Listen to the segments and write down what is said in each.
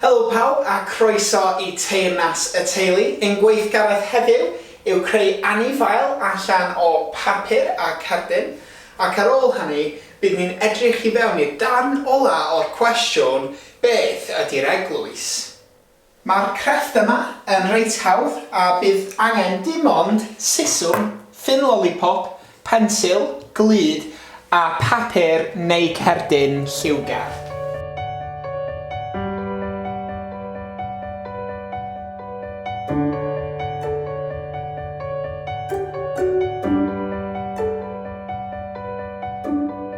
Helo pawb a croeso i Teyrnas y Teulu. Ein gweithgaredd heddiw yw creu anifail allan o papur a cerdyn, ac ar ôl hynny bydd ni'n edrych i fewn i'r darn ola' o'r cwestiwn, beth ydi'r eglwys? Mae'r crefft yma yn reit hawdd a bydd angen dim ond siswm, ffyn lolipop, pensil, glud a phapur neu cerdyn lliwgar.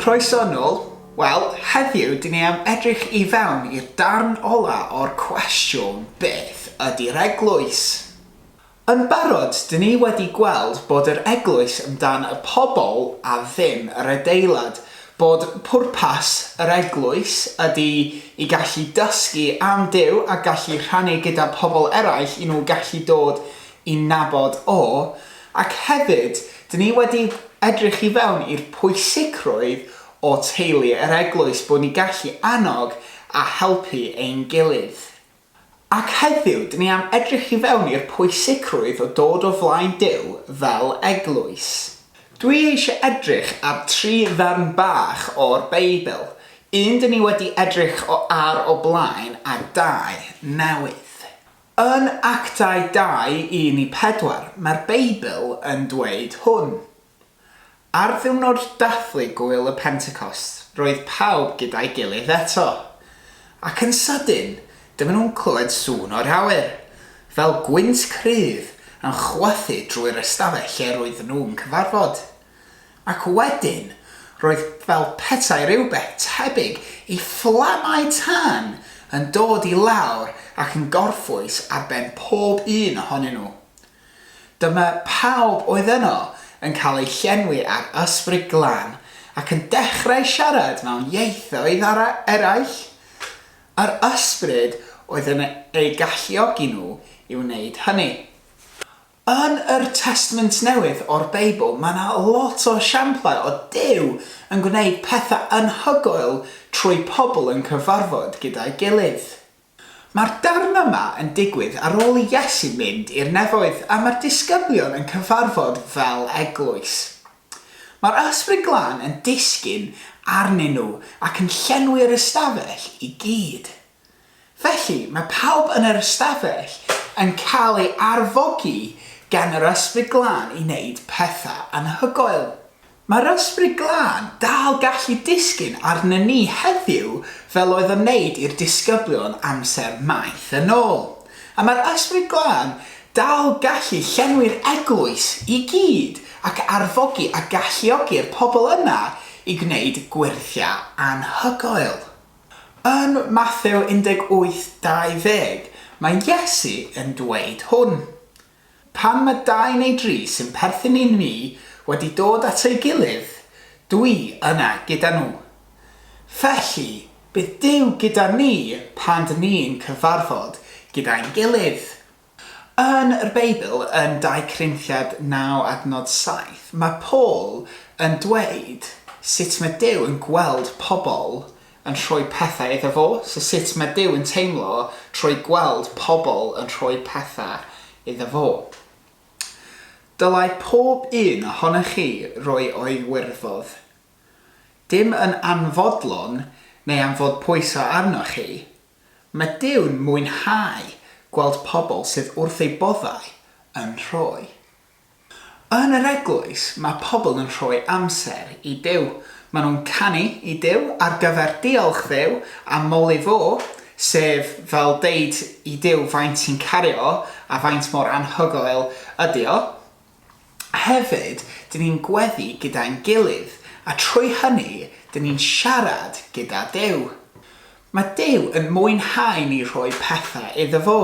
Croeso yn ôl. Wel, heddiw dyn ni am edrych i fewn i'r darn ola o'r cwestiwn beth ydy'r eglwys? Yn barod, dyn ni wedi gweld bod yr Eglwys am dan y pobl a ddim yr adeilad, bod pwrpas yr Eglwys ydi i gallu dysgu am Duw a gallu rhannu gyda pobl eraill i nhw gallu dod i nabod O, ac hefyd, dyn ni wedi edrych i fewn i'r pwysigrwydd o teulu yr Eglwys, bod ni gallu annog a helpu ein gilydd. Ac heddiw, dyn ni am edrych i fewn i'r pwysicrwydd o dod o flaen Duw fel eglwys. Dwi eisiau edrych ar tri ddarn bach o'r Beibl, un dyn ni wedi edrych o ar o blaen a dau newydd. Yn Actau 2, 1 i 4, mae'r Beibl yn dweud hwn, Ar ddiwrnod dathlu Gŵyl y Pentecost, roedd pawb gyda'i gilydd eto. Ac yn sydyn, dyma nhw'n clywed sŵn o'r awyr, fel gwynt cryf yn chwythu drwy'r ystafell lle roedden nhw'n cyfarfod. Ac wedyn, roedd fel petai rhywbeth tebyg i fflamau tân yn dod i lawr ac yn gorffwys ar ben pob un ohonyn nhw. Dyma pawb oedd yno yn cael eu llenwi â'r Ysbryd Glân ac yn dechrau siarad mewn ieithoedd eraill. Yr Ysbryd oedd yn eu galluogi nhw i wneud hynny. Yn yr Testament Newydd o'r Beibl mae yna lot o esiamplau o Duw yn gwneud pethau anhygoel trwy pobl yn cyfarfod gyda'i gilydd. Mae'r darn yma yn digwydd ar ôl i Iesu mynd i'r nefoedd a mae'r disgyblion yn cyfarfod fel eglwys. Mae'r Ysbryd Glân yn disgyn arnyn nhw ac yn llenwi'r ystafell i gyd. Felly, mae pawb yn yr ystafell yn cael ei arfogi gan yr Ysbryd Glân i wneud pethau anhygoel. Mae'r Ysbryd Glân dal gallu disgyn arnyn ni heddiw fel oedd o'n neud i'r disgyblion amser maith yn ôl. A mae'r Ysbryd Glân dal gallu llenwi'r eglwys i gyd ac arfogi a galluogi'r pobl yna i gwneud gwyrthiau anhygoel. Yn Mathew 18:20, mae Iesu yn dweud hwn. Pan mae dau neu dri sy'n perthyn i ni wedi dod at ei gilydd, dw i yna gyda nhw. Felly, bydd Duw gyda ni pan dŷn ni'n cyfarfod gyda'n gilydd. Yn y Beibl, yn 2 Corinthiaid 9 adnod 7, mae Paul yn dweud sut mae Duw yn gweld pobl yn rhoi pethau iddo fo, so sut mae Duw yn teimlo trwy gweld pobl yn rhoi pethau iddo fo? Dylai pob un ohonoch chi roi o'i wirfodd. Dim yn anfodlon neu am fod pwyso arnoch chi. Mae Duw'n mwynhau gweld pobl sydd wrth eu boddau yn rhoi. Yn yr eglwys, mae pobl yn rhoi amser i Duw. Maen nhw'n canu i Duw ar gyfer diolch Dduw a moli fo, sef fel deud i Duw faint ti'n caru o a faint mor anhygoel ydy o. Hefyd, dyn ni'n gweddu gyda'n gilydd a trwy hynny, dyn ni'n siarad gyda Duw. Mae Duw yn mwynhau ni rhoi pethau iddo fo.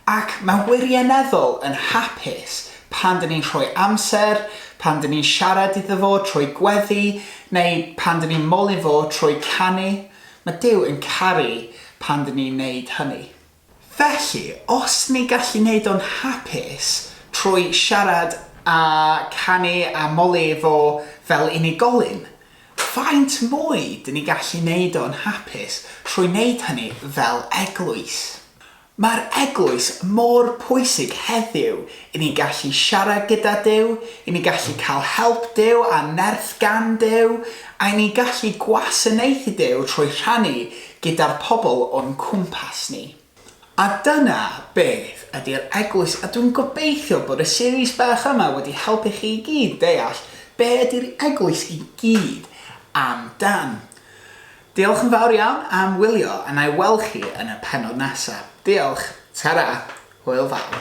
Ac mae'n wirioneddol yn hapus pan dŷn ni'n rhoi amser, pan dŷn ni'n siarad iddo fo trwy gweddi, neu pan dŷn ni'n moli fo trwy canu. Mae Duw yn caru pan dŷn ni'n wneud hynny. Felly, os ni gallu neud o'n hapus trwy siarad a canu a moli fo fel unigolyn, faint mwy dyn ni gallu neud o yn hapus trwy neud hynny fel eglwys? Mae'r eglwys mor pwysig heddiw i ni gallu siarad gyda Duw, i ni gallu cael help Duw a nerth gan Duw, a i ni gallu gwasanaethu Duw trwy rhannu gyda'r pobl o'n cwmpas ni. A dyna beth ydy'r Eglwys a dwi'n gobeithio bod y series bach yma wedi helpu chi i gyd deall be ydy'r Eglwys i gyd am dan. Diolch yn fawr iawn am wylio a na i weld chi yn y pennod nesa. Diolch. Tara. Hwyl fawr.